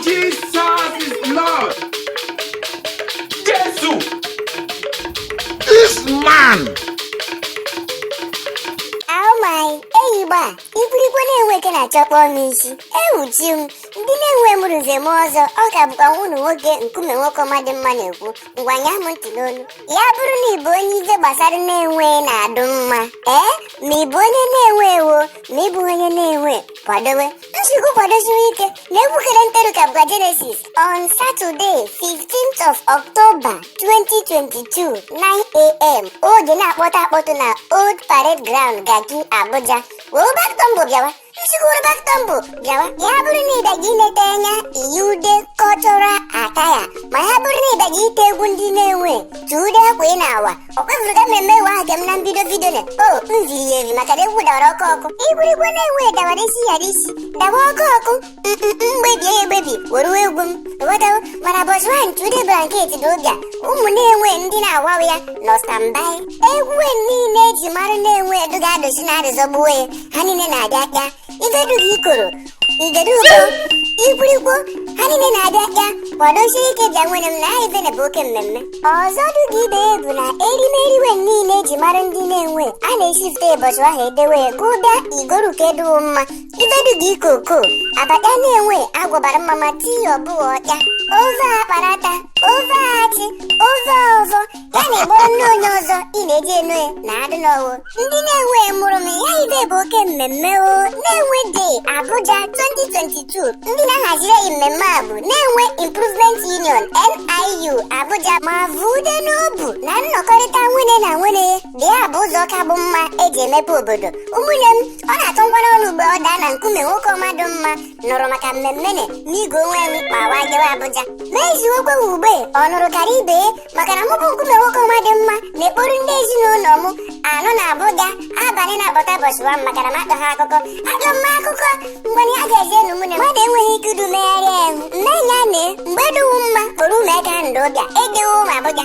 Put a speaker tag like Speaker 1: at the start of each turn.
Speaker 1: Jesus is Lord. Jesu. This man. Oh my, eyigbo a, ikwirikwo Nenwe ike na-achọkpọ m isi. Ewuchi m, ndị Nenwe mụrụ ze m ọzọ, ọ ka bụkwa nwa unu nwoke Nkume nwoke ọma dị mma na-ekwu. ngwa ṅaa m ntị n'olu ya bụrụ na ịbụ onye ife gbasara Nenwe na-adụ mma ee ma ịbụ onye Nenwe o ma ịbụ onye Nenwe kwadowe m sị gụ kwadosiwe ike na egwu kere nteru ka bụkwa Genesis on Saturday 15th of October 2022 9am oge na-akpọtụ akpọtụ na Old Parade Ground Garki Abuja wee ụbakụtọ mbụ bịawa ezigbo dọkịta m bụ bịawa ya bụrụ na ịbịaga ileta anya iyi ude cultural attire ma ya bụrụ na ịbịaga ite egwu ndị Nenwe ti ude akwa ị na-awa ọ kwefuru ka mmemme ewe ahụ kem na mbido vidio na o m ziri ya eri maka na egwu dawara ọkụ ọkụ ikwirikwo Nenwe dawara isi yara isi dawa ọkụ ọkụ mgbebie ya egbebi were egwu m ghọtawo mana bọchị nwa ti ude blanket dị ụbịa ụmụ Nenwe ndị na-awawa ya nọ standby egwu niile eji mara Nenwe edu ga-adozi na-adịzọgbuo ya ha niile na-abịa bịa ibe dụ ga ikoro ibe dụ ga ikwirikwo ha niile na-abịa bịa kwadosie ike bịa nwanne m na ife na bụ oke mmemme ọzọ dụ ga ibe ya bụ na erimeriwe niile eji mara ndị Nenwe a na-esifte ụbọchị ahụ edewe ya ka ụ bịa ị goru ke dụ wo mma ibe dụ ga ikoko abacha Nenwe agwọbara mma mma tii ọbụghị ọkya ofe akparata ofe achị ofe ọzọ ya na-egboro nne onye ọzọ ị na-eji enu ya na adị n'ọwụ ndị Nenwe mụrụ m ya ibe bụ oke mmemme o Nenwe Day Abuja 2022 ndị na-ahaziri anyị mmemme a bụ Nenwe Improvement Union NIU Abuja ma vude n'obu na nnọkọrịta nwanne na nwanne ibe ya bụ ụzọ ka bụ mma eji emepe obodo ụmụnne m ọ na-atụ ngwara ọnụ mgbe ọ daa ala Nkume nwoke ọma dụ mma nụrụ maka mmemme na n'igwe onwe m ma wa jewe Abuja ma eziokwu e ugbe ọ nụrụ kara ibe maka na mụ bụ Nkume nwoke ọma dị mma na-ekporo ndị ezinụlọ m anọ na Abuja abalị na-abọta bọchị nwa m maka na m akọ ha akụkọ akọ mma akụkọ mgbe na ya ga-eji enu mụ na mmadụ enweghị ike idu megharị ahụ mmenya na mgbe dịwu mma kporo ụmụ ego ahụ ndị ụbịa ịdịwo m Abuja